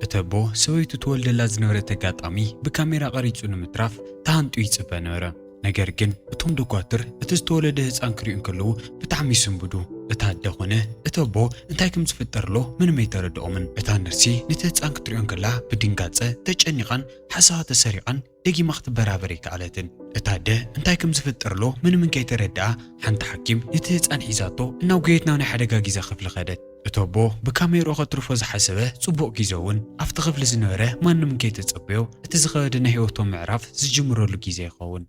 እቲ ኣቦ ሰበይቱ ትወልደላ ዝነበረት ኣጋጣሚ ብካሜራ ቀሪጹ ንምትራፍ ተሃንጥዩ ይጽበ ነበረ። ነገር ግን እቶም ዶኳትር እቲ ዝተወለደ ህጻን ክሪኡ እንከለዉ ብጣዕሚ ይስንብዱ። እቲ ኣደ ኮነ እቲ ኣቦ እንታይ ከም ዝፍጠርሎ ምንም ኣይተረድኦምን። እታ ነርሲ ነቲ ህጻን ክትሪኦ እንከላ ብድንጋጸ ተጨኒቓን ሓሳባ ተሰሪቓን ደጊማ ክትበራበር ኣይከኣለትን። እታ ኣደ እንታይ ከም ዝፍጠርሎ ምንምን ከይተረድኣ ሓንቲ ሓኪም ነቲ ህጻን ሒዛቶ እናጎየት ናብ ናይ ሓደጋ ጊዘ ክፍሊ ከደት። እቲ ኣቦ ብካሜርኡ ከትርፎ ዝሓሰበ ጽቡቕ ጊዘ እውን ኣብቲ ክፍሊ ዝነበረ ማንምን ከይተጸበዮ እቲ ዝኸበደ ናይ ህይወቶም ምዕራፍ ዝጅምረሉ ጊዘ ይኸውን።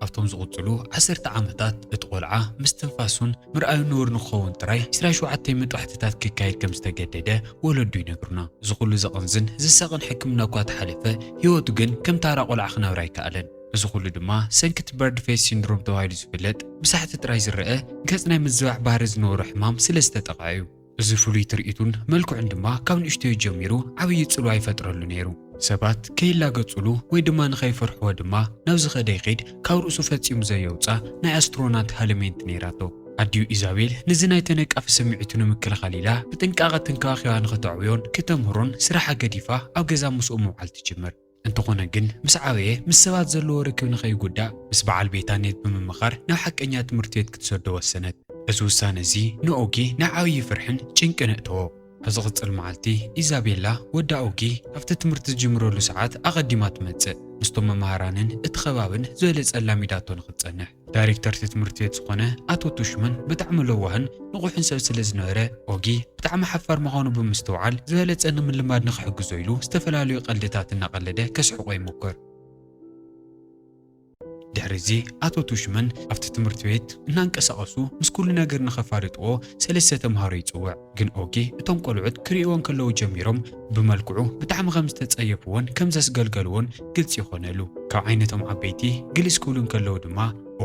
ኣብቶም ዝቕጽሉ ዓሰርተ ዓመታት እቲ ቈልዓ ምስትንፋሱን ምርኣዩን ንቡር ንክኸውን ጥራይ 27 መጥባሕትታት ክካየድ ከም ዝተገደደ ወለዱ ይነግሩና። እዚ ዅሉ ዘቕንዝን ዝሳቕን ሕክምና እኳ ተሓለፈ፣ ህይወቱ ግን ከም ታራ ቈልዓ ክነብር ኣይከኣለን። እዚ ዅሉ ድማ ሰንኪ እቲ በርድ ፌስ ሲንድሮም ተባሂሉ ዝፍለጥ ብሳሕቲ ጥራይ ዝረኣ ገጽ ናይ ምዝባዕ ባህሪ ዝነበሮ ሕማም ስለ ዝተጠቕዐ እዩ። እዚ ፍሉይ ትርኢቱን መልክዑን ድማ ካብ ንእሽተዩ ጀሚሩ ዓብዪ ጽልዋ ይፈጥረሉ ነይሩ። ሰባት ከይላገጹሉ ወይ ድማ ንኸይፈርሕዎ ድማ ናብ ዝኸደ ይኺድ ካብ ርእሱ ፈጺሙ ዘየውጽኣ ናይ ኣስትሮናት ሃለሜንት ነይራቶ። ኣዲኡ ኢዛቤል ነዚ ናይ ተነቃፊ ስምዒቱ ንምክልኻል ኢላ ብጥንቃቐ ተንከባኺባ ንኸተዕብዮን ክተምህሮን ስራሓ ገዲፋ ኣብ ገዛ ምስኡ ምውዓል ትጅምር። እንተኾነ ግን ምስ ዓበየ ምስ ሰባት ዘለዎ ርክብ ንኸይጉዳእ ምስ በዓል ቤታ ኔት ብምምኻር ናብ ሓቀኛ ትምህርቲ ቤት ክትሰዶ ወሰነት። እዚ ውሳነ እዚ ንኦጊ ናብ ዓብዪ ፍርሕን ጭንቅን ኣእተዎ። ኣብ ዝቕጽል መዓልቲ ኢዛቤላ ወዳ ኦጊ ኣብቲ ትምህርቲ ዝጅምረሉ ሰዓት ኣቐዲማ ትመጽእ። ምስቶም መማህራንን እቲ ከባብን ዝበለጸ ኣላሚዳቶ ንኽትጸንሕ። ዳይሬክተር እቲ ትምህርቲ ቤት ዝኾነ ኣቶ ቱሽሙን ብጣዕሚ ለዋህን ንቑሕን ሰብ ስለ ዝነበረ ኦጊ ብጣዕሚ ሓፋር ምዃኑ ብምስትውዓል ዝበለፀ ንምልማድ ንክሕግዞ ኢሉ ዝተፈላለዩ ቀልድታት እናቐለደ ከስሕቖ ይሞክር። ድሕሪ እዚ ኣቶ ቱሽሙን ኣብቲ ትምህርቲ ቤት እናንቀሳቐሱ ምስ ኩሉ ነገር ንከፋልጥዎ ሰለስተ ተምሃሮ ይፅውዕ። ግን ኦጊ እቶም ቆልዑት ክርእይዎ እንከለዉ ጀሚሮም ብመልክዑ ብጣዕሚ ከም ዝተጸየፍዎን ከም ዘስገልገልዎን ግልጺ ኮነሉ። ካብ ዓይነቶም ዓበይቲ ግልስ ክብሉ እንከለዉ ድማ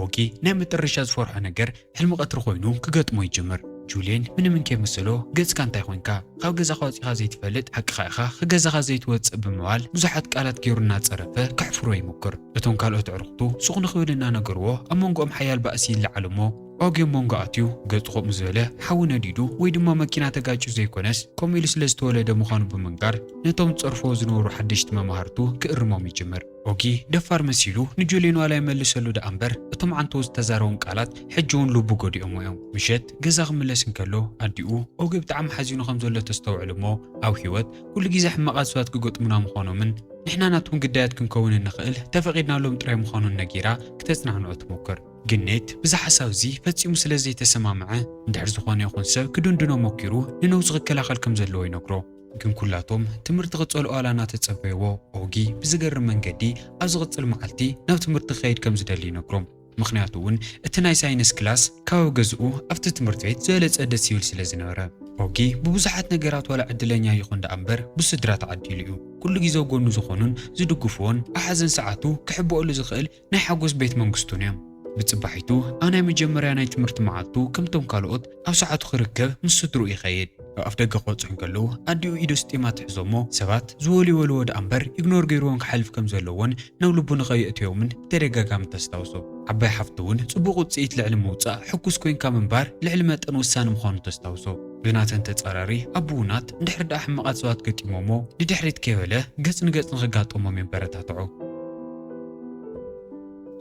ኦጊ ናይ መጠረሻ ዝፈርሖ ነገር ሕልሚ ቀትሪ ኮይኑ ክገጥሞ ይጅምር። ጁልየን ምንም እንከይመሰሎ ገጽካ እንታይ ኮንካ? ካብ ገዛኻ ወጺኻ ዘይትፈልጥ ሓቅኻ ኢኻ ክገዛኻ ዘይትወጽእ ብምባል ብዙሓት ቃላት ጌሩ እናጸረፈ ከሕፍሮ ይሙክር። እቶም ካልኦት ኣዕሩኽቱ ሱቕ ንኽብል እናነገርዎ ኣብ መንጎኦም ሓያል ባእሲ ይለዓል'ሞ፣ ኦጌ ኣብ ሞንጎ ኣትዩ ገጹ ከምኡ ዝበለ ሓዊ ነዲዱ ወይ ድማ መኪና ተጋጭዩ ዘይኮነስ ከምኡ ኢሉ ስለ ዝተወለደ ምዃኑ ብምንጋር ነቶም ዝጸርፍዎ ዝነበሩ ሓደሽቲ መማህርቱ ክእርሞም ይጅምር። ኦጊ ደፋር መሲሉ ንጁልየን ዋላ ይመልሰሉ ደኣ እምበር እቶም ዓንተኡ ዝተዛረቦም ቃላት ሕጂ'ውን ልቡ ጎዲኦሞ እዮም። ምሸት ገዛ ክምለስ እንከሎ ኣዲኡ ኦጊ ብጣዕሚ ሓዚኑ ከም ዘሎ ተስተውዕል እሞ ኣብ ህይወት ኩሉ ግዜ ሕማቓት ሰባት ክገጥሙና ምዃኖምን ንሕና ናቶም ግዳያት ክንከውን እንኽእል ተፈቒድናሎም ጥራይ ምዃኑን ነጊራ ክተጽናንዖ ትሞክር። ግን ኔት ብዚ ሓሳብ እዚ ፈጺሙ ስለ ዘይተሰማምዐ፣ እንድሕር ዝኾነ ይኹን ሰብ ክድንድኖ ሞኪሩ ንነውጺ ክከላኸል ከም ዘለዎ ይነግሮ። ግን ኩላቶም ትምህርቲ ክጸልኦ ኣላና ተጸበይዎ። ኦጊ ብዝገርም መንገዲ ኣብ ዝቕጽል መዓልቲ ናብ ትምህርቲ ክኸይድ ከም ዝደሊ ይነግሮም። ምኽንያቱ እውን እቲ ናይ ሳይንስ ክላስ ከባቢ ገዝኡ ኣብቲ ትምህርቲ ቤት ዝበለጸ ደስ ይብል ስለ ዝነበረ። ኦጊ ብብዙሓት ነገራት ዋላ ዕድለኛ ይኹን ደኣ እምበር ብስድራ ተዓዲሉ እዩ። ኩሉ ግዜ ኣብ ጎኑ ዝኾኑን ዝድግፍዎን ኣብ ሓዘን ሰዓቱ ክሕብኦሉ ዝኽእል ናይ ሓጎስ ቤት መንግስቱን እዮም። ብጽባሒቱ ኣብ ናይ መጀመርያ ናይ ትምህርቲ መዓልቱ ከምቶም ካልኦት ኣብ ሰዓቱ ክርከብ ምስ ስድርኡ ይኸይድ። ካብ ኣፍደገ ክወጽሑ እንከለዉ ኣዲኡ ኢዱ ስጢማ ትሕዞ እሞ ሰባት ዝወልወልዎ ደኣ እምበር ኢግኖር ገይርዎም ክሓልፍ ከም ዘለዎን ናብ ልቡ ንኸየእትዮምን ብተደጋጋሚ ተስታውሶ። ዓባይ ሓፍቱ እውን ጽቡቕ ውጽኢት ልዕሊ ምውጻእ ሕጉስ ኮይንካ ምንባር ልዕሊ መጠን ወሳኒ ምዃኑ ተስታውሶ። ብናተን ተጻራሪ ኣቡናት እንድሕሪ ደኣ ሕማቓት ሰባት ገጢሞሞ ንድሕሪት ከይበለ ገጽ ንገጽ ንኽጋጠሞም የበረታትዖ።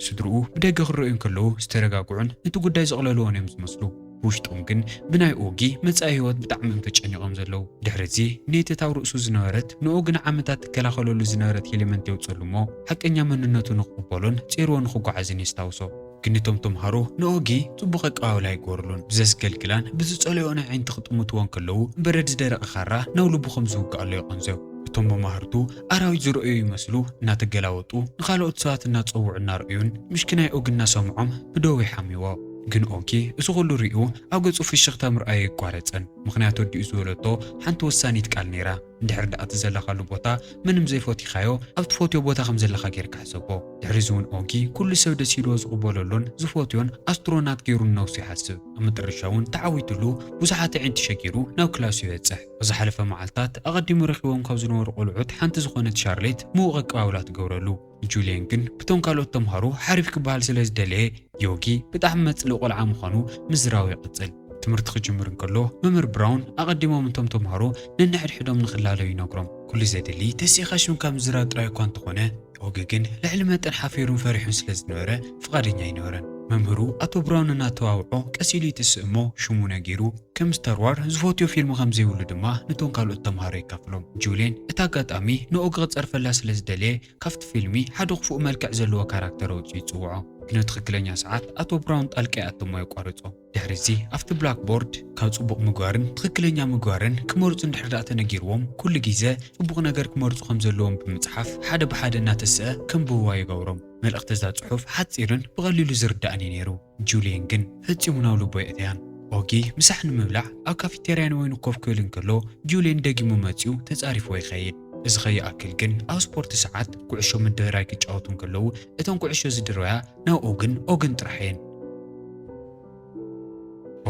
ስድርኡ ብደገ ክረኣዩ እንከለዉ ዝተረጋግዑን ነቲ ጉዳይ ዘቕለልዎን እዮም ዝመስሉ። ብውሽጦም ግን ብናይ ኦጊ መጻኢ ህይወት ብጣዕሚ እዮም ተጨኒቖም ዘለዉ። ድሕሪ'ዚ ኔተት ኣብ ርእሱ ዝነበረት ንኦጊ ንዓመታት ትከላኸለሉ ዝነበረት ሄልመንት የውጽኣሉ እሞ ሓቀኛ መንነቱ ንኽቕበሎን ጼርዎ ንኽጓዓዝን የስታውሶ። ግን እቶም ተምሃሮ ንኦጊ ጽቡቕ ኣቀባብላ ይገበሩሉን ብዘስገልግላን ብዝጸልኦኦን ኣዒንቲ ክጥምትዎ እንከለዉ በረድ ዝደረቐ ካራ ናብ ልቡ ከም ዝውግኣሉ የቐንዘው። እቶም መማህርቱ ኣራዊት ዝረኣዩ ይመስሉ እናተገላወጡ ንኻልኦት ሰባት እናጸውዑ እናረኣዩን ምሽክናይ ኦጊ እናሰምዖም ብደዉ ይሓምይዎ። ግን ኦጊ እዚ ኩሉ ሪኡ ኣብ ገጹ ፍሽኽታ ምርኣዩ ኣይቋረጸን ምኽንያቱ ኣዲኡ ዝበለቶ ሓንቲ ወሳኒት ቃል ነይራ። እንድሕር ደኣ እቲ ዘለኻሉ ቦታ ምንም ዘይፎቲኻዮ ኣብ ትፎትዮ ቦታ ከም ዘለኻ ጌርካ ሕሰቦ። ድሕሪ እዚ ውን ኦጊ ኩሉ ሰብ ደስ ኢልዎ ዝቕበለሉን ዝፎትዮን ኣስትሮናት ጌሩ ንነብሱ ይሓስብ። ኣብ መጠረሻ ውን ተዓዊትሉ ብዙሓት ኣዒንቲ ሸጊሩ ናብ ክላሱ ይበጽሕ። ኣብ ዝሓለፈ መዓልታት ኣቐዲሙ ረኺቦም ካብ ዝነበሩ ቆልዑት ሓንቲ ዝኾነት ሻርሌት ምዉቕ ኣቀባብላ ትገብረሉ። ጁልየን ግን ብቶም ካልኦት ተምሃሮ ሓሪፍ ክበሃል ስለ ዝደለየ፣ ዮጊ ብጣዕሚ መጽልኢ ቆልዓ ምዃኑ ምዝራቡ ይቕጽል። ትምህርቲ ክጅምር እንከሎ፣ መምህር ብራውን ኣቐዲሞም እቶም ተምሃሮ ነንሕድሕዶም ንኽላለዩ ይነግሮም። ኩሉ ዘድሊ ተሲእኻ ሽምካ ምዝራብ ጥራይ እኳ እንተኾነ፣ ዮጊ ግን ልዕሊ መጠን ሓፊሩን ፈሪሑን ስለ ዝነበረ፣ ፍቓደኛ ኣይነበረን። መምህሩ ኣቶ ብርሃኑ እናተዋብዖ ቀስ ኢሉ ይትስእ እሞ ሽሙ ነጊሩ፣ ከም ስታር ዋር ዝፈትዮ ፊልም ከም ዘይብሉ ድማ ነቶም ካልኦት ተማሃሮ የካፍሎም። ጁልየን እቲ ኣጋጣሚ ንኦጊ ክጸርፈላ ስለ ዝደለየ ካብቲ ፊልሚ ሓደ ክፉእ መልክዕ ዘለዎ ካራክተር ኣውጺኡ ይጽውዖ። ግን ኣብ ትኽክለኛ ሰዓት ኣቶ ብርሃኑ ጣልቃ ይኣቱ እሞ የቋርጾ። ድሕሪዚ ኣብቲ ብላክ ቦርድ ካብ ጽቡቕ ምግባርን ትኽክለኛ ምግባርን ክመርጹ እንድሕር ደኣ ተነጊርዎም ኩሉ ጊዘ ጽቡቕ ነገር ክመርጹ ከም ዘለዎም ብምጽሓፍ ሓደ ብሓደ እናተሰኣ ከንብብዋ ይገብሮም። መልእኽቲ እዛ ጽሑፍ ሓጺርን ብቐሊሉ ዝርዳእን እዩ ነይሩ። ጁልየን ግን ፈጺሙ ናብ ልቡ ኣየእተያን። ኦጊ ምሳሕ ንምብላዕ ኣብ ካፊቴርያ ንበይኑ ኮፍ ክብል እንከሎ ጁልየን ደጊሙ መጺኡ ተጻሪፍዎ ይኸይድ። እዚ ከይኣክል ግን ኣብ ስፖርት ሰዓት ኩዕሾ ምድርራይ ክጫወቱ እንከለዉ እተን ኩዕሾ ዝድርበያ ናብ ኦግን ኦግን ጥራሕ እየን።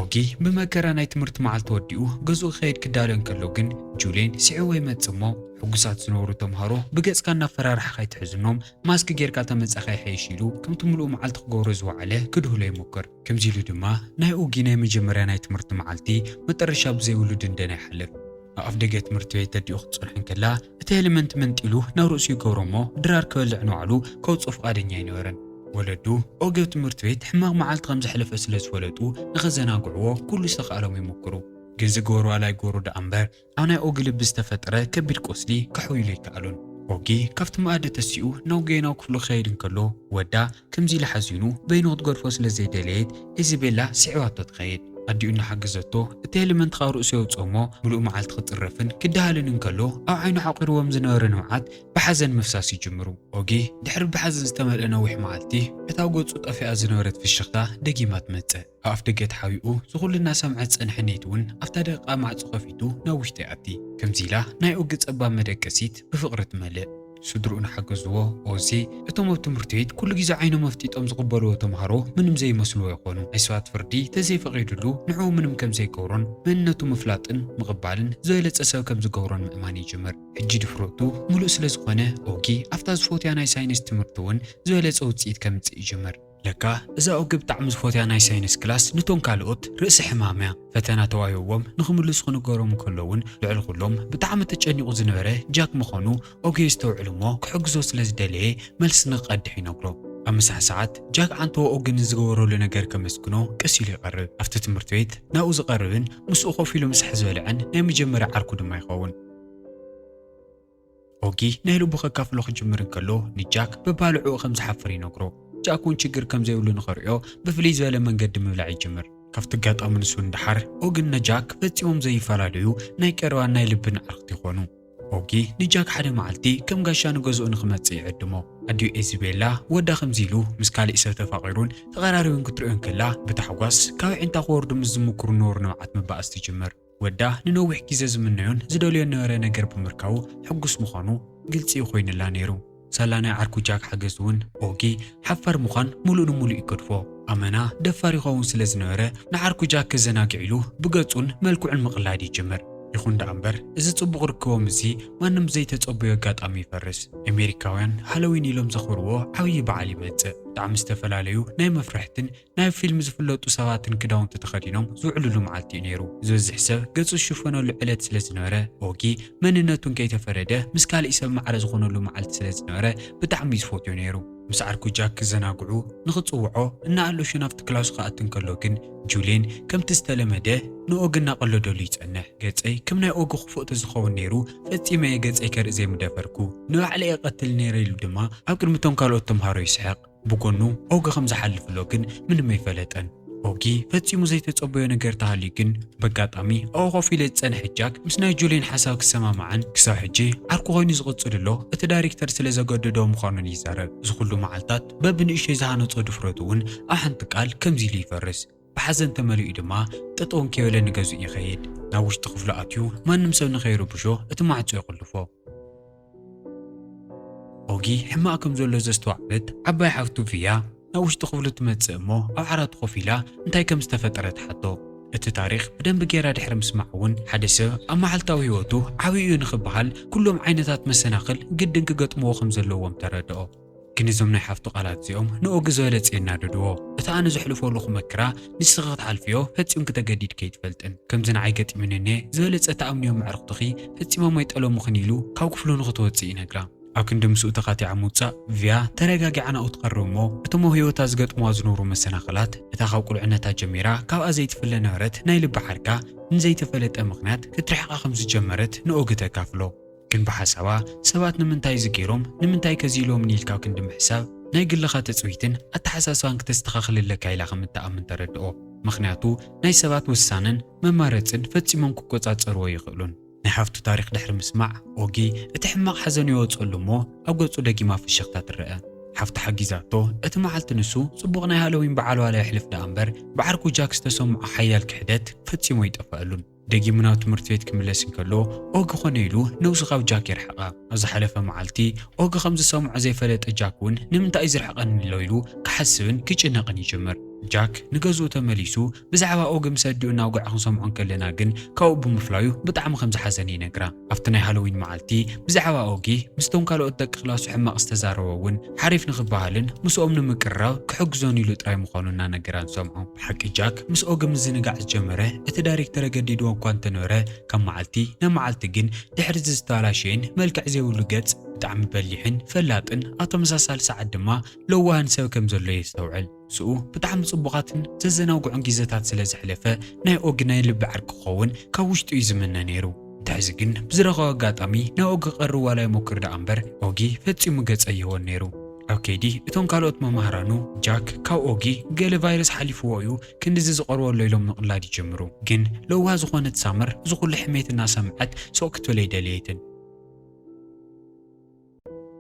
ኦጊ ብመከራ ናይ ትምህርቲ መዓልቲ ወዲኡ ገዝኡ ክኸይድ ክዳሎ እንከሎ ግን ጁሌን ስዒዎ ይመጽእ እሞ ሕጉሳት ዝነበሩ ተምሃሮ ብገጽካ እናፈራርሕኻ ኣይትሕዝኖም ማስክ ጌርካ ተመጻኻ ይሐይሽ ኢሉ ከምቲ ምሉእ መዓልቲ ክገብሮ ዝወዓለ ክድህሎ ይሞክር። ከምዚ ኢሉ ድማ ናይ ኦጊ ናይ መጀመርያ ናይ ትምህርቲ መዓልቲ መጠረሻ ብዘይብሉ ድንደና ይሓልፍ። ኣብ ኣፍደገ ትምህርቲ ቤት ተዲኡ ክትጸንሖ እንከላ እቲ ሄልመንት መንጢሉ ናብ ርእሱ ይገብሮ እሞ ድራር ክበልዕ ንባዕሉ ከውጽኦ ፍቓደኛ ኣይነበረን። ወለዱ ኦጊዮ ትምህርቲ ቤት ሕማቕ መዓልቲ ከም ዘሕለፈ ስለ ዝፈለጡ ንኸዘናግዕዎ ኩሉ ዝተኻእሎም ይሙኩሩ። ግን ዝገበሩ ዋላ ይገበሩ ደኣ እምበር ኣብ ናይ ኦጊ ልቢ ዝተፈጥረ ከቢድ ቁስሊ ከሕውይሉ ኣይከኣሉን። ኦጊ ካብቲ መኣዲ ተሲኡ ናብ ኦጊዮ ናብ ክፍሉ ክኸይድ እንከሎ ወዳ ከምዚ ኢላ ሓዚኑ በይኑ ክትገድፎ ስለ ዘይደለየት እዚ ቤላ ስዒባቶ ትኸይድ። ኣዲኡ እናሓገዘቶ እቲ ሄልመንት ካብ ርእሱ የውጽኦ እሞ ምሉእ መዓልቲ ክጽረፍን ክደሃልን እንከሎ ኣብ ዓይኑ ዓቚርዎም ዝነበረ ንብዓት ብሓዘን ምፍሳስ ይጅምሩ። ኦጊ ድሕሪ ብሓዘን ዝተመልአ ነዊሕ መዓልቲ እታ ገጹ ጠፊኣ ዝነበረት ፍሽኽታ ደጊማ ትመጽእ። ኣብ ኣፍደገ ተሓቢኡ ዝኹሉ እናሰምዐ ዝጸንሐ ኔት እውን ኣብታ ደቂቓ ማዕጾ ከፊቱ ናብ ውሽጢ ይኣቲ። ከምዚ ኢላ ናይ ኦጊ ጸባብ መደቀሲት ብፍቕሪ ትመልእ። ስድርኡ እናሓገዝዎ፣ ኦዚ እቶም ኣብ ትምህርት ቤት ኩሉ ግዜ ዓይኖም ኣፍጢጦም ዝቕበልዎ ተማሃሮ ምንም ዘይመስልዎ ይኾኑ። ናይ ሰባት ፍርዲ ተዘይፈቒዱሉ ንዕኡ ምንም ከም ዘይገብሮን መንነቱ ምፍላጥን ምቕባልን ዝበለጸ ሰብ ከም ዝገብሮን ምእማን ይጅምር። ሕጂ ድፍረቱ ምሉእ ስለ ዝኾነ ኦጊ ኣብታ ዝፎትያ ናይ ሳይንስ ትምህርት እውን ዝበለጸ ውጽኢት ከምጽእ ይጅምር። ለካ እዛ ኦገ ብጣዕሚ ዝፎትያ ናይ ሳይንስ ክላስ ንቶም ካልኦት ርእሲ ሕማም እያ ፈተና ተዋሂብዎም ንክምልሱ ክንገሮም እንከሎ ውን ልዕሊ ኩሎም ብጣዕሚ ተጨኒቁ ዝነበረ ጃክ ምኮኑ ኦገ የስተውዕል እሞ ክሕግዞ ስለ ዝደለየ መልሲ ንክቀድሕ ይነግሮ ኣብ ምሳሕ ሰዓት ጃክ ዓንተቦ ኦገ ንዝገበረሉ ነገር ከመስግኖ ቀስ ኢሉ ይቀርብ ኣብቲ ትምህርቲ ቤት ናብኡ ዝቀርብን ምስኡ ኮፍ ኢሉ ምሳሕ ዝበልዕን ናይ መጀመርያ ዓርኩ ድማ ይከውን። ኦጊ ናይ ልቡ ከካፍሎ ክጅምር እንከሎ ንጃክ በባልዕኡ ከም ዝሓፍር ይነግሮ። ጃክ እውን ችግር ከም ዘይብሉ ንኸርእዮ ብፍልይ ዝበለ መንገዲ ምብላዕ ይጅምር። ካብቲ ኣጋጣሚ ንሱ ንደሓር ኦግን ነጃክ ፈጺሞም ዘይፈላለዩ ናይ ቀረባን ናይ ልብን ኣዕርኽቲ ይኾኑ። ኦጊ ንጃክ ሓደ መዓልቲ ከም ጋሻ ንገዝኡ ንክመጽእ ይዕድሞ። ኣዲኡ ኤዚቤላ ወዳ ከምዚ ኢሉ ምስ ካሊእ ሰብ ተፋቒሩን ተቐራሪቡን ክትርእዮ እንከላ ብታሕጓስ ካብ ኣዒንታ ክወርዱ ምስ ዝምኩሩ ንቡር ንብዓት ምባኣስ ትጅምር። ወዳ ንነዊሕ ግዜ ዝምነዮን ዝደልዮን ነበረ ነገር ብምርካቡ ሕጉስ ምዃኑ ግልጺ ኮይኑላ ነይሩ። ሳላ ናይ ዓርኩ ጃክ ሓገዝ'ውን ኦጊ ሓፋር ምዃን ምሉእ ንምሉእ ይገድፎ። ኣመና ደፋር ይኸውን ስለ ዝነበረ ንዓርኩ ጃክ ከዘናግዕ ኢሉ ብገጹን መልክዑን ምቕላድ ይጅምር። ይኹን ደኣ እምበር እዚ ጽቡቕ ርክቦም እዚ ማንም ብዘይተጸበዮ ኣጋጣሚ ይፈርስ። ኤሜሪካውያን ሃሎዊን ኢሎም ዘኽብርዎ ዓብዪ በዓል ይመጽእ። ብጣዕሚ ዝተፈላለዩ ናይ መፍርሕትን ናይ ፊልም ዝፍለጡ ሰባትን ክዳውንቲ ተኸዲኖም ዝውዕልሉ መዓልቲ እዩ ነይሩ። ዝበዝሕ ሰብ ገጹ ዝሽፈነሉ ዕለት ስለ ዝነበረ፣ ኦጊ መንነቱን ከይተፈረደ ምስ ካልእ ሰብ ማዕረ ዝኾነሉ መዓልቲ ስለ ዝነበረ ብጣዕሚ እዩ ዝፎትዮ ነይሩ። ምስ ዓርኩ ጃክ ክዘናግዑ ንኽጽውዖ እናኣሎሸ ናብቲ ክላሱ ክኣቲ እንከሎ ግን ጁልየን ከምቲ ዝተለመደ ንኦጊ እናቐለደሉ ይጸንሕ። ገጸይ ከም ናይ ኦጊ ክፉእ ተዝኸውን ነይሩ ፈጺመ እየ ገጸይ ከርኢ ዘይምደፈርኩ። ንባዕለይ እቐትል ነይረ ኢሉ ድማ ኣብ ቅድሚ እቶም ካልኦት ተምሃሮ ይስሕቕ። ብጎኑ ኦጊ ከም ዝሓልፍሎ ግን ምንም ኣይፈለጠን። ኦጊ ፈጺሙ ዘይተጸበዮ ነገር ተሃልዩ ግን በጋጣሚ ኣብኡ ኮፍ ኢሉ ዝጸንሐ ጃክ ምስ ናይ ጁሊን ሓሳብ ክሰማማዕን ክሳብ ሕጂ ዓርኩ ኮይኑ ዝቕጽልሎ እቲ ዳሪክተር ስለ ዘገደዶ ምዃኑን ይዛረብ። እዚ ኩሉ መዓልታት በብንእሽቶይ ዝሃነጾ ድፍረቱ እውን ኣብ ሓንቲ ቃል ከምዚ ኢሉ ይፈርስ። ብሓዘን ተመሊኡ ድማ ጠጠው እንከይበለ ንገዝኡ ይኸይድ። ናብ ውሽጢ ክፍሉ ኣትዩ ማንም ሰብ ንኸይርብሾ እቲ ማዕጾ ይቑልፎ። ኦጊ ሕማቕ ከም ዘሎ ዘስተዋዕለት ዓባይ ሓፍቱ ቪያ ናብ ውሽጢ ክፍሉ ትመጽእ እሞ ኣብ ዓራቱ ኮፍ ኢላ እንታይ ከም ዝተፈጠረ ትሓቶ። እቲ ታሪኽ ብደንቢ ገይራ ድሕሪ ምስማዕ እውን ሓደ ሰብ ኣብ መዓልታዊ ህይወቱ ዓብዪ እዩ ንኽበሃል ኩሎም ዓይነታት መሰናኽል ግድን ክገጥምዎ ከም ዘለዎም ተረድኦ። ግን እዞም ናይ ሓፍቱ ቃላት እዚኦም ንኦጊ ዝበለጸ የናደድዎ። እቲ ኣነ ዘሕልፎ ኣለኹ መከራ ንስኺ ክትሓልፍዮ ፈጺምኪ ተገዲድኪ ኣይትፈልጥን። ከምዚ ንዓይ ገጢሙኒ እኔ ዝበለጸ ትኣምንዮም ኣዕሩኽትኺ ፈጺሞም ኣይጠለሙኽን ኢሉ ካብ ክፍሉ ንኽትወጽእ ይነግራ። ኣብ ክንዲ ምስኡ ተኻቲዓ ምውጻእ ቪያ ተረጋጊዓ ናብኡ ትቐርብ እሞ እቶም ኣብ ህይወታ ዝገጥሙዋ ዝነበሩ መሰናኽላት እታ ካብ ቁልዕነታ ጀሚራ ካብኣ ዘይትፍለ ነበረት ናይ ልቢ ዓርካ ንዘይተፈለጠ ምኽንያት ክትርሕቓ ከም ዝጀመረት ንኦጊ ተካፍሎ። ግን ብሓሳባ ሰባት ንምንታይ እዚ ገይሮም ንምንታይ ከ እዚ ኢሎምኒ ኢልካ ክንዲ ምሕሳብ ናይ ግልኻ ትጽቢትን ኣተሓሳስባን ክተስተኻኽል ኣለካ ኢላ ከም እትኣምን ተረድኦ ምኽንያቱ ናይ ሰባት ውሳነን መማረጽን ፈጺሞም ክቆጻጸርዎ ኣይኽእሉን። ናይ ሓፍቱ ታሪኽ ድሕሪ ምስማዕ ኦጊ እቲ ሕማቕ ሓዘኑ የወጸሉ እሞ ኣብ ገጹ ደጊማ ፍሽኽታ ትረኣ። ሓፍቱ ሓጊዛቶ እቲ መዓልቲ ንሱ ጽቡቕ ናይ ሃሎዊን በዓል ዋላ የሕልፍ ደኣ እምበር ብዓርኩ ጃክ ዝተሰምዖ ሓያል ክሕደት ፈጺሙ ኣይጠፈኣሉን። ደጊሙ ናብ ትምህርቲ ቤት ክምለስ እንከሎ ኦጊ ኮነ ኢሉ ነብሱ ካብ ጃክ የርሕቓ። ኣብ ዝሓለፈ መዓልቲ ኦጊ ከም ዝሰምዖ ዘይፈለጠ ጃክ እውን ንምንታይ እዩ ዝርሕቐኒ ዘሎ ኢሉ ክሓስብን ክጭነቕን ይጅምር። ጃክ ንገዝኡ ተመሊሱ ብዛዕባ ኦጊ ምስ ኣዲኡ እናውግዐ ክንሰምዖ እንከለና ግን ካብኡ ብምፍላዩ ብጣዕሚ ከም ዝሓዘነ ይነግራ። ኣብቲ ናይ ሃሎዊን መዓልቲ ብዛዕባ ኦጊ ምስቶም ካልኦት ደቂ ክላሱ ሕማቕ ዝተዛረቦ እውን ሓሪፍ ንኽበሃልን ምስኦም ንምቅርራብ ክሕግዞን ኢሉ ጥራይ ምዃኑ እናነገራ ንሰምዖ። ብሓቂ ጃክ ምስ ኦጊ ምዝንጋዕ ዝጀመረ እቲ ዳይሬክተር ኣገዲድዎ እኳ እንተነበረ ካብ መዓልቲ ናብ መዓልቲ ግን ድሕሪዚ ዝተበላሸየን መልክዕ ዘይብሉ ገጽ ብጣዕሚ በሊሕን ፈላጥን ኣብ ተመሳሳሊ ሰዓት ድማ ለዋህን ሰብ ከም ዘሎ የስተውዕል። ምስኡ ብጣዕሚ ጽቡቓትን ዘዘናግዑን ጊዘታት ስለ ዘሕለፈ ናይ ኦጊ ናይ ልቢ ዓርኪ ክኸውን ካብ ውሽጡ እዩ ዝምነ ነይሩ። እንተ ሕዚ ግን ብዝረኸቦ ኣጋጣሚ ናብ ኦጊ ክቐርብ ዋላ ይሞክር ደኣ እምበር ኦጊ ፈጺሙ ገጸ ኣይህቦን ነይሩ። ኣብ ከይዲ እቶም ካልኦት መማህራኑ ጃክ ካብ ኦጊ ገለ ቫይረስ ሓሊፍዎ እዩ ክንድዚ ዝቐርቦ ኣሎ ኢሎም ምቕላድ ይጅምሩ። ግን ለዋህ ዝኾነት ሳመር እዚ ኩሉ ሕሜት እናሰምዐት ሱቕ ክትብል ኣይደለየትን።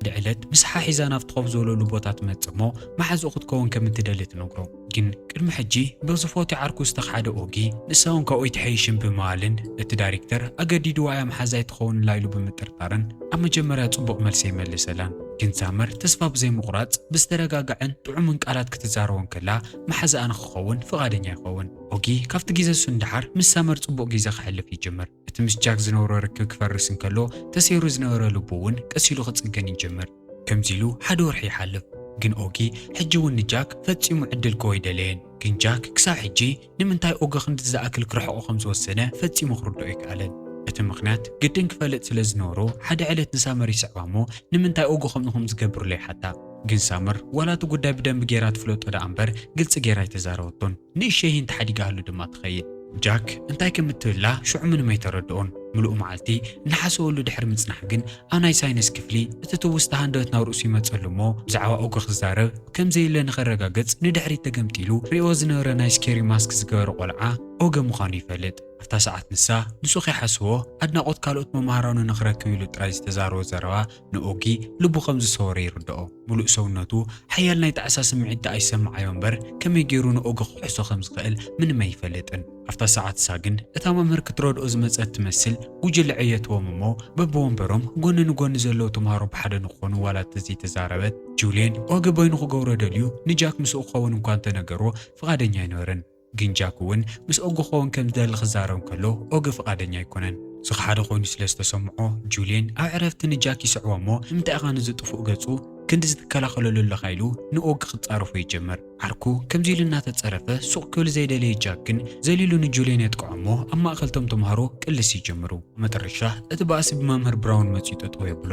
ድዕለት ምስ ሓሒዛ ናብቲ ኮፍ ዝበለሉ ቦታ ትመጽእ እሞ መሓዝኡ ክትከውን ከም እትደሊ ትነግሮ። ግን ቅድሚ ሕጂ ብዝፎትዮ ዓርኩ ዝተኽሓደ ኦጊ ንሳውን ካብኡ ኣይትሐይሽን ብምባልን እቲ ዳሪክተር ኣገዲድዋ እያ መሓዛ ኣይትኸውንላ ኢሉ ብምጥርጣርን ኣብ መጀመርያ ጽቡቕ መልሲ ኣይመለሰላን። ግን ሳመር ተስፋ ብዘይምቑራጽ ብዝተረጋግዐን ጥዑምን ቃላት ክትዛረቦ እንከላ መሓዛኣ ንኽኸውን ፍቓደኛ ይኸውን። ኦጊ ካብቲ ግዜ እሱ ንደሓር ምስ ሳመር ጽቡቕ ግዜ ከሕልፍ ይጅምር። እቲ ምስ ጃክ ዝነበሮ ርክብ ክፈርስ እንከሎ ተሰይሩ ዝነበረ ልቡ እውን ቀስ ኢሉ ክጽገን ይጅምር። ከምዚ ኢሉ ሓደ ወርሒ ይሓልፍ። ግን ኦጊ ሕጂ እውን ንጃክ ፈጺሙ ዕድል ክህቦ ኣይደለየን። ግን ጃክ ክሳብ ሕጂ ንምንታይ ኦጊ ክንድዚ ዝኣክል ክርሕቖ ከም ዝወሰነ ፈጺሙ ክርድኦ ኣይከኣለን። እቲ ምኽንያት ግድን ክፈልጥ ስለ ዝነበሮ ሓደ ዕለት ንሳመር ይስዕባ እሞ ንምንታይ ኦጊ ከምኡ ከም ዝገብር ኢሉ ይሓታ። ግን ሳመር ዋላ እቲ ጉዳይ ብደንቢ ገይራ ትፍለጦ ደኣ እምበር ግልጺ ገይራ ኣይተዛረበቶን። ንእሸይን ተሓዲጋ'ሉ ድማ ትኸይድ። ጃክ እንታይ ከም እትብላ ሽዑ ምንም ኣይተረድኦን። ምሉእ መዓልቲ እናሓሰበሉ ድሕሪ ምጽናሕ ግን ኣብ ናይ ሳይንስ ክፍሊ እቲ ትውስታ ሃንደበት ናብ ርእሱ ይመጸሉ እሞ ብዛዕባ ኡግ ክዛረብ ከም ዘዩለ ንኸረጋግጽ ንድሕሪት ተገምጢሉ ርእይዎ ዝነበረ ናይ ስኬሪ ማስክ ዝገበረ ቆልዓ ኦገ ምዃኑ ይፈልጥ። ኣብታ ሰዓት ንሳ ንሱ ከይሓሰቦ ኣድናቖት ካልኦት መማህራኑ ንኽረክብ ኢሉ ጥራይ ዝተዛረቦ ዘረባ ንኦጊ ልቡ ከም ዝሰወረ ይርድኦ። ምሉእ ሰውነቱ ሓያል ናይ ጣዕሳ ስምዒት ደኣ ይሰምዓዮ እምበር፣ ከመይ ገይሩ ንኦጊ ክውሕሶ ከም ዝኽእል ምንም ኣይፈልጥን። ኣብታ ሰዓት እሳ ግን እታ መምህር ክትረድኦ ዝመጸት ትመስል ጉጅለ ዕየትዎም እሞ በብወንበሮም ጎኒ ንጎኒ ዘለዉ ተማሃሮ ብሓደ ንክኾኑ ዋላ ተዘይተዛረበት፣ ጁልየን ኦጊ በይኑ ክገብሮ ደልዩ ንጃክ ምስኡ ክኸውን እኳ እንተነገርዎ ፍቓደኛ ኣይነበረን። ግን ጃክ እውን ምስ ኦግ ክኸውን ከም ዝደሊ ክዛረብ እንከሎ ኦግ ፍቓደኛ ኣይኰነን። ዝኸሓደ ኰይኑ ስለ ዝተሰምዖ፣ ጁልየን ኣብ ዕረፍቲ ንጃክ ይስዕቦ እሞ ንምንታይ ኢኻ ነዚ ጥፉእ ገጹ ክንድዚ ትከላኸለሉ ኣለኻ ኢሉ ንኦግ ክጻረፎ ይጅምር። ዓርኩ ከምዚ ኢሉ እናተጸረፈ ሱቕ ክብል ዘይደለየ ጃክ ግን ዘሊሉ ንጁልየን የጥቅዖ እሞ ኣብ ማእከል እቶም ተማሃሮ ቅልስ ይጅምሩ። ኣብ መጠረሻ እቲ ባእሲ ብመምህር ብራውን መጺኡ ጠጠው የብሎ።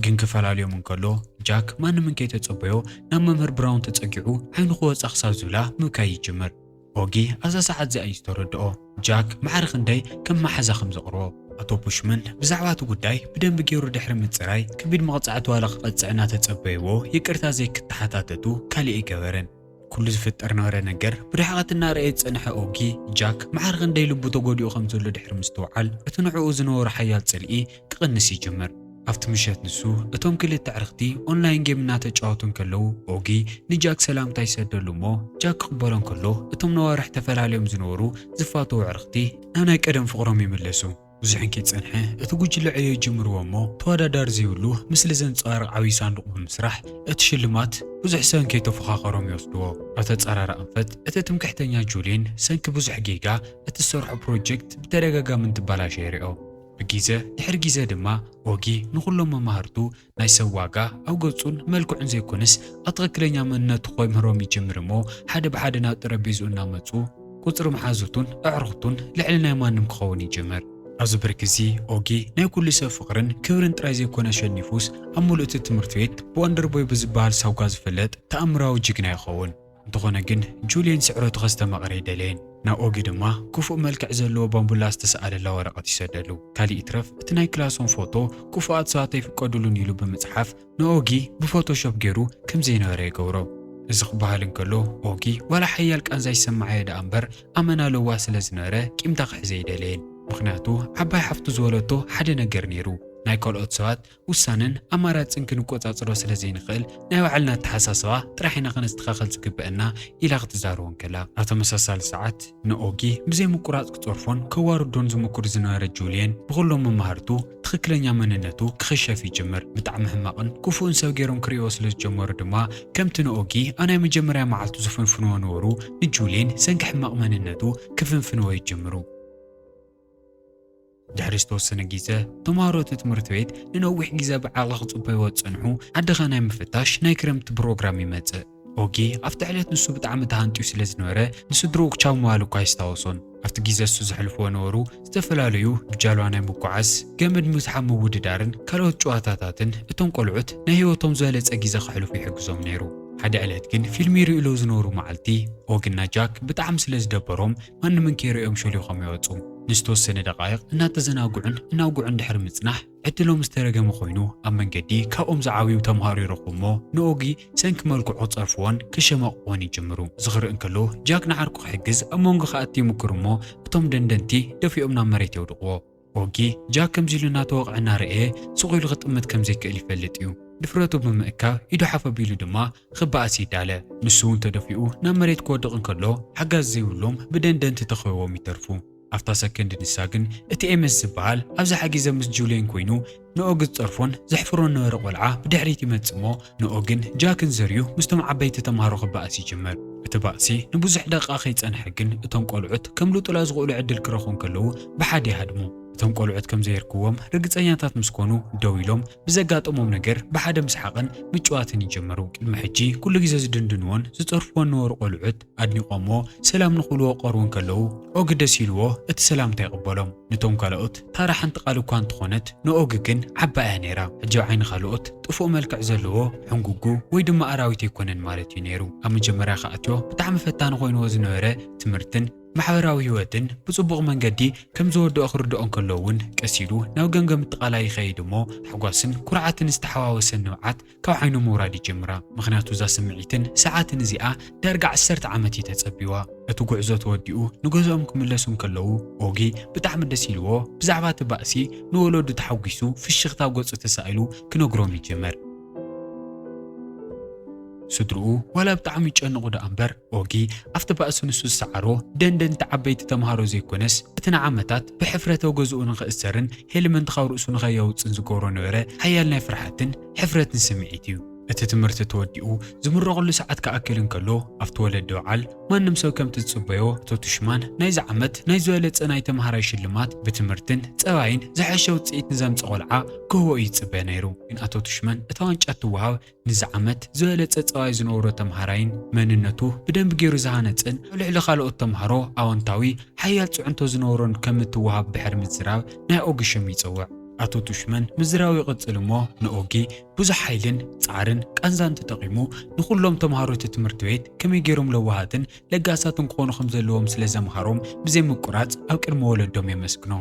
ግን ክፈላልዮም እንከሎ፣ ጃክ ማንም እንከይተጸበዮ ናብ መምህር ብራውን ተጸጊዑ ዓይኑ ክወጻ ክሳብ ዝብላ ምብካይ ይጅምር። ኦጊ ኣብዛ ሰዓት እዚኣ እዩ ዝተረድኦ ጃክ ማዕረ ክንደይ ከም መሓዛ ከም ዘቕርቦ። ኣቶ ቡሽመን ብዛዕባ እቲ ጉዳይ ብደንቢ ገይሩ ድሕሪ ምጽራይ፣ ከቢድ መቕጻዕቲ ዋላ ክቐጽዕ እናተጸበይዎ ይቅርታ ዘይክተሓታተቱ ካልእ ኣይገበረን። ኩሉ ዝፍጠር ነበረ ነገር ብርሕቐት እናረኣየ ዝጸንሐ ኦጊ፣ ጃክ መዓር ኽንደይ ልቡ ተጎዲኡ ኸም ዘሎ ድሕሪ ምስትውዓል፣ እቲ ንዕኡ ዝነበሮ ሓያል ጽልኢ ክቕንስ ይጅምር። ኣብቲ ምሸት ንሱ፣ እቶም ክልተ ኣዕርኽቲ ኦንላይን ጌም እናተጫወቱ እንከለዉ፣ ኦጊ ንጃክ ሰላምታ ይሰደሉ እሞ፣ ጃክ ክቕበሎ እንከሎ፣ እቶም ነዋርሕ ተፈላልዮም ዝነበሩ ዝፋተዉ ኣዕርኽቲ ናብ ናይ ቀደም ፍቕሮም ይምለሱ። ብዙሕ እንከይጸንሐ እቲ ጉጅለ ዕዮ ጀምርዎ እሞ ተወዳዳሪ ዘይብሉ ምስሊ ዘንጸባርቕ ዓብዪ ሳንዱቕ ብምስራሕ እቲ ሽልማት ብዙሕ ሰብ እንከይተፎኻኸሮም ይወስድዎ። ኣብ ተጻራሪ ኣንፈት እቲ ትምክሕተኛ ጁሊን ሰንኪ ብዙሕ ጌጋ እቲ ዝሰርሖ ፕሮጀክት ብተደጋጋሚ እንትበላሾ የሪኦ። ብጊዘ ድሕሪ ጊዘ ድማ ኦጊ ንኹሎም መማህርቱ ናይ ሰብ ዋጋ ኣብ ገጹን መልክዑን ዘይኮነስ ኣብ ትኽክለኛ መንነቱ ከምህሮም ይጅምር እሞ ሓደ ብሓደ ናብ ጠረጴዝኡ እናመጹ ቁጽሪ መሓዙቱን ኣዕሩኽቱን ልዕሊ ናይ ማንም ክኸውን ይጅምር። ኣብዚ ብርኪ እዚ ኦጊ ናይ ኩሉ ሰብ ፍቕርን ክብርን ጥራይ ዘይኮነ ኣሸኒፉስ ኣብ ምሉእ'ቲ ትምህርቲ ቤት ብወንደርቦይ ብዝበሃል ሳጓ ዝፍለጥ ተኣምራዊ ጅግና ይኸውን። እንተኾነ ግን ጁልየን ስዕረቱ ከስተማቕር ኣይደለየን። ናብ ኦጊ ድማ ክፉእ መልክዕ ዘለዎ ባምቡላ ዝተሰኣለላ ወረቐት ይሰደሉ። ካልእ ይትረፍ እቲ ናይ ክላሶም ፎቶ ክፉኣት ሰባት ኣይፍቀዱሉን ኢሉ ብምጽሓፍ ንኦጊ ብፎቶሾፕ ገይሩ ከም ዘይነበረ ይገብሮ። እዚ ክበሃል እንከሎ ኦጊ ዋላ ሓያል ቃንዛ ይሰመዓዮ ደኣ እምበር ኣመና ለዋህ ስለ ዝነበረ ቂምታ ክሕዝ ኣይደለየን። ምኽንያቱ ዓባይ ሓፍቱ ዝወለቶ ሓደ ነገር ነይሩ ናይ ካልኦት ሰባት ውሳነን ኣማራጽን ክንቆጻጽሮ ስለ ዘይንኽእል ናይ ባዕልና ኣተሓሳስባ ጥራሕ ኢና ከነስተኻኸል ዝግበእና ኢላ ክትዛረቦ እንከላ፣ ኣብ ተመሳሳሊ ሰዓት ንኦጊ ብዘይ ምቁራጽ ክጸርፎን ከዋርዶን ዝሙኩር ዝነበረ ጁልየን ብኹሎም መማህርቱ ትኽክለኛ መንነቱ ክኽሸፍ ይጅምር። ብጣዕሚ ሕማቕን ክፉእን ሰብ ገይሮም ክርእይዎ ስለ ዝጀመሩ ድማ ከምቲ ንኦጊ ኣብ ናይ መጀመርያ መዓልቱ ዝፍንፍንዎ ነበሩ ንጁልየን ሰንኪ ሕማቕ መንነቱ ክፍንፍንዎ ይጅምሩ። ድሕሪ ዝተወሰነ ግዜ ተምሃሮ እቲ ትምህርቲ ቤት ንነዊሕ ግዜ ብዓቕሊ ክጽበይዎ ዝጸንሑ ዓድኻ ናይ ምፍታሽ ናይ ክረምቲ ፕሮግራም ይመጽእ። ኦጊ ኣብቲ ዕለት ንሱ ብጣዕሚ ተሃንጥዩ ስለ ዝነበረ ንስድርኡ ክቻው ምባሉ እኳ ኣይስታወሶን። ኣብቲ ግዜ እሱ ዘሕልፍዎ ነበሩ ዝተፈላለዩ ብጃልባ ናይ ምጉዓዝ፣ ገመድ ምስሓብ ምውድዳርን ካልኦት ጭዋታታትን እቶም ቆልዑት ናይ ህይወቶም ዝበለጸ ግዜ ከሕልፉ ይሕግዞም ነይሩ። ሓደ ዕለት ግን ፊልም ይርእዩ ሎ ዝነበሩ መዓልቲ ኦጊ እና ጃክ ብጣዕሚ ስለ ዝደበሮም ማንምን ከይርእዮም ሾሊኾም ይወጹ። ንዝተወሰነ ደቓይቕ እናተዘናግዑን እናውግዑን ድሕሪ ምጽናሕ፣ ዕድሎም ዝተረገመ ኮይኑ ኣብ መንገዲ ካብኦም ዝዓብዩ ተምሃሮ ይረኽቡ እሞ ንኦጊ ሰንኪ መልክዑ ክጸርፍዎን ከሸማቕቕዎን ይጅምሩ። እዚ ክርኢ እንከሎ ጃክ ንዓርኩ ክሕግዝ ኣብ መንጎ ክኣቲ ይሙኩር እሞ እቶም ደንደንቲ ደፊኦም ናብ መሬት የውድቕዎ። ኦጊ፣ ጃክ ከምዚ ኢሉ እናተወቕዐ እናረኣየ ስቕ ኢሉ ክጥምት ከም ዘይክእል ይፈልጥ እዩ። ድፍረቱ ብምእካብ ኢዱ ሓፍ ኣቢሉ ድማ ክበኣስ ይዳለ። ንሱ እውን ተደፊኡ ናብ መሬት ክወድቕ እንከሎ ሓጋዚ ዘይብሎም ብደንደንቲ ተኸቢቦም ይተርፉ። ኣብታ ሰከንድ ንሳ ግን እቲ ኤመስ ዝበሃል ኣብዛ ሓጊዘ ምስ ጁልየን ኮይኑ ንኦግ ዝጸርፎን ዘሕፍሮን ነበረ ቆልዓ ብድሕሪት ይመጽእ እሞ ንኦግን ጃክን ዘርዩ ምስቶም ዓበይቲ ተማሃሮ ክበኣስ ይጅምር። እቲ ባእሲ ንብዙሕ ደቓ ከይጸንሐ ግን እቶም ቆልዑት ከምልጡላ ዝኽእሉ ዕድል ክረኽቡ እንከለዉ ብሓደ ይሃድሙ። እቶም ቆልዑት ከምዘየርክዎም ርግጸኛታት ምስ ኮኑ ደው ኢሎም ብዘጋጠሞም ነገር ብሓደ ምስሓቕን ምጭዋትን ይጅምሩ። ቅድሚ ሕጂ ኩሉ ግዜ ዝድንድንዎን ዝጸርፍዎን ነበሩ ቆልዑት፣ ኣድኒቖሞ ሰላም ንኽብልዎ ክቐርቡ እንከለዉ፣ ኦጊ ደስ ኢልዎ እቲ ሰላምታ ይቕበሎም። ነቶም ካልኦት ታራ ሓንቲ ቃል እኳ እንተኾነት ንኦጊ ግን ዓባይ እያ ነይራ። ሕጂ ኣብ ዓይኒ ካልኦት ጥፉእ መልክዕ ዘለዎ፣ ሕንጉጉ ወይ ድማ ኣራዊት ኣይኮነን ማለት እዩ ነይሩ። ኣብ መጀመርያ ክኣትዮ ብጣዕሚ ፈታኒ ኮይንዎ ዝነበረ ትምህርትን ማሕበራዊ ህይወትን ብጽቡቕ መንገዲ ከም ዝወድኦ ክርድኦ እንከሎ እውን ቀስ ኢሉ ናብ ገምገም እትቓላይ ይኸይድ እሞ ሓጓስን ኩርዓትን ዝተሓዋወሰ ንብዓት ካብ ዓይኑ ምውራድ ይጅምራ ምኽንያቱ እዛ ስምዒትን ሰዓትን እዚኣ ዳርጋ ዓሰርተ ዓመት እዩ ተጸቢዋ። እቲ ጉዕዞ ተወዲኡ ንገዝኦም ክምለሱ እንከለዉ ኦጊ ብጣዕሚ ደስ ኢልዎ ብዛዕባ እቲ ባእሲ ንወለዱ ተሓጒሱ ፍሽኽታ ኣብ ገጹ ተሳኢሉ ክነግሮም ይጅምር። ስድርኡ ዋላ ብጣዕሚ ይጨነቑ ደኣ እምበር ኦጊ ኣብቲ ባእሲ ንሱ ዝሰዓሮ ደንደንቲ ዓበይቲ ተመሃሮ ዘይኮነስ፣ እቲ ንዓመታት ብሕፍረት ኣብ ገዝኡ ንኽእሰርን ሄልመንት ካብ ርእሱ ንኸየውጽእን ዝገብሮ ነበረ ሓያል ናይ ፍርሓትን ሕፍረትን ስምዒት እዩ። እቲ ትምህርቲ ተወዲኡ ዝምረቐሉ ሰዓት ክኣክል እንከሎ ኣብቲ ወለዲ በዓል ማንም ሰብ ከምቲ ዝጽበዮ እቶ ቱሽማን ናይዚ ዓመት ናይ ዝበለጸ ናይ ተመሃራይ ሽልማት ብትምህርትን ጸባይን ዝሐሸ ውጽኢት ንዘምጽእ ቆልዓ ክህቦ እዩ ዝጽበ ነይሩ። ግን ኣቶ ቱሽማን እታ ዋንጫ እትወሃብ ንዚ ዓመት ዝበለጸ ጸባይ ዝነበሮ ተመሃራይን መንነቱ ብደንቢ ገይሩ ዝሃነጽን ኣብ ልዕሊ ካልኦት ተመሃሮ ኣወንታዊ ሓያል ጽዕንቶ ዝነበሮን ከም እትወሃብ ድሕሪ ምዝራብ ናይ ኦጊ ሽም ይጸውዕ። ኣቶ ቱሽመን ምዝራቡ ይቕጽል እሞ ንኦጊ ብዙሕ ሓይልን ጻዕርን ቃንዛን ተጠቒሙ ንኹሎም ተመሃሮ እቲ ትምህርቲ ቤት ከመይ ገይሮም ለዋሃትን ለጋሳትን ክኾኑ ከም ዘለዎም ስለ ዘምሃሮም ብዘይ ምቁራጽ ኣብ ቅድሚ ወለዶም የመስግኖ።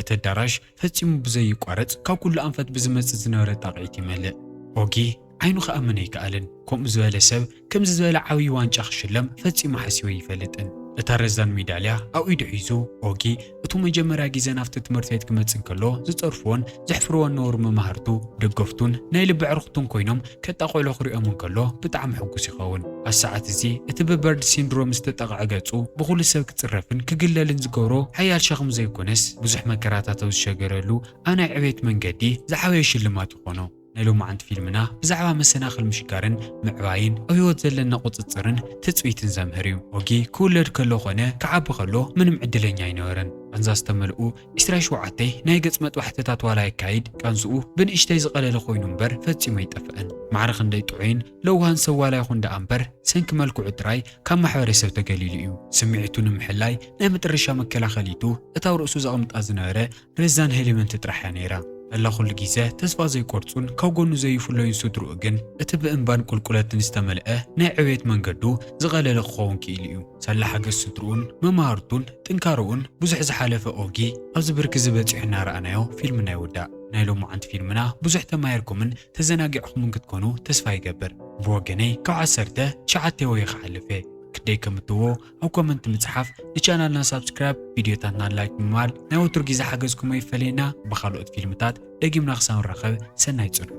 እቲ ኣዳራሽ ፈጺሙ ብዘዩቋረጽ ካብ ኩሉ ኣንፈት ብዝመጽእ ዝነበረ ጣቕዒት ይመልእ። ኦጊ ዓይኑ ክኣምን ኣይከኣለን። ከምኡ ዝበለ ሰብ ከምዚ ዝበለ ዓብዪ ዋንጫ ክሽለም ፈጺሙ ሓሲቡ ኣይፈልጥን። እታ ረዛን ሜዳልያ ኣብ ኢዱ ሒዙ፣ ኦጊ እቱ መጀመርያ ግዜ ናብቲ ትምህርቲ ቤት ክመጽእ እንከሎ ዝጸርፍዎን ዘሕፍርዎን ዝነበሩ መማህርቱ፣ ደገፍቱን ናይ ልቢ ኣዕሩኽቱን ኮይኖም ከጣ ቆልዑ ክሪኦም እንከሎ ብጣዕሚ ሕጉስ ይኸውን። ኣብ ሰዓት እዚ እቲ ብበርድ ሲንድሮም ዝተጠቕዐ ገጹ ብኹሉ ሰብ ክጽረፍን ክግለልን ዝገብሮ ሓያል ሸኽሚ ዘይኮነስ ብዙሕ መከራታት ኣብ ዝሸገረሉ ኣብ ናይ ዕቤት መንገዲ ዝዓበየ ሽልማት ይኾኖ። ናይ ሎማዓንቲ ፊልምና ብዛዕባ መሰናኽል ምሽጋርን ምዕባይን ኣብ ህይወት ዘለና ቁጽጽርን ትጽቢትን ዘምህር እዩ። ኦጊ ክውለድ ከሎ ኮነ ክዓቢ ከሎ ምንም ዕድለኛ ኣይነበረን። ቃንዛ ዝተመልኡ ዒስራይ ሸውዓተይ ናይ ገጽ መጥባሕትታት ዋላ የካይድ ቀንስኡ ብንእሽተይ ዝቐለለ ኮይኑ እምበር ፈጺሙ ኣይጠፍእን። ማዕረ ክንደይ ጥዑይን ለውሃን ሰብ ዋላ ይኹን ደኣ እምበር ሰንኪ መልክዑ ጥራይ ካብ ማሕበረሰብ ተገሊሉ እዩ። ስምዒቱ ንምሕላይ ናይ መጠረሻ መከላኸሊቱ እታ ኣብ ርእሱ ዘቕምጣ ዝነበረ ረዛን ሄልመንት ጥራሕ እያ ነይራ። መላ ኩሉ ግዘ ተስፋ ዘይቆርጹን ካብ ጎኑ ዘይፍለዩን ስድርኡ ግን እቲ ብእምባን ቁልቁለትን ዝተመልአ ናይ ዕብየት መንገዱ ዝቐለለ ክኸውን ክኢሉ እዩ። ሰላ ሓገዝ ስድርኡን መማህርቱን ጥንካረኡን ብዙሕ ዝሓለፈ ኦጊ ኣብዚ ብርኪ እዚ በጺሑ እናረኣናዮ ፊልምና ይውዳእ። ናይ ሎማዓንቲ ፊልምና ብዙሕ ተማሂርኩምን ተዘናጊዕኹምን ክትኮኑ ተስፋ ይገብር። ብወገነይ ካብ ዓሰርተ ትሽዓተ ወየ ክሓልፍ እየ። ክደይ ከም እትዎ ኣብ ኮመንት ምጽሓፍ ንቻናልና ሳብስክራይብ ቪድዮታትና ላይክ ብምባል ናይ ወትሩ ግዜ ሓገዝኩም ኣይፈለየና ብኻልኦት ፊልምታት ደጊምና ክሳብ ንራኸብ ሰናይ ጽንሑ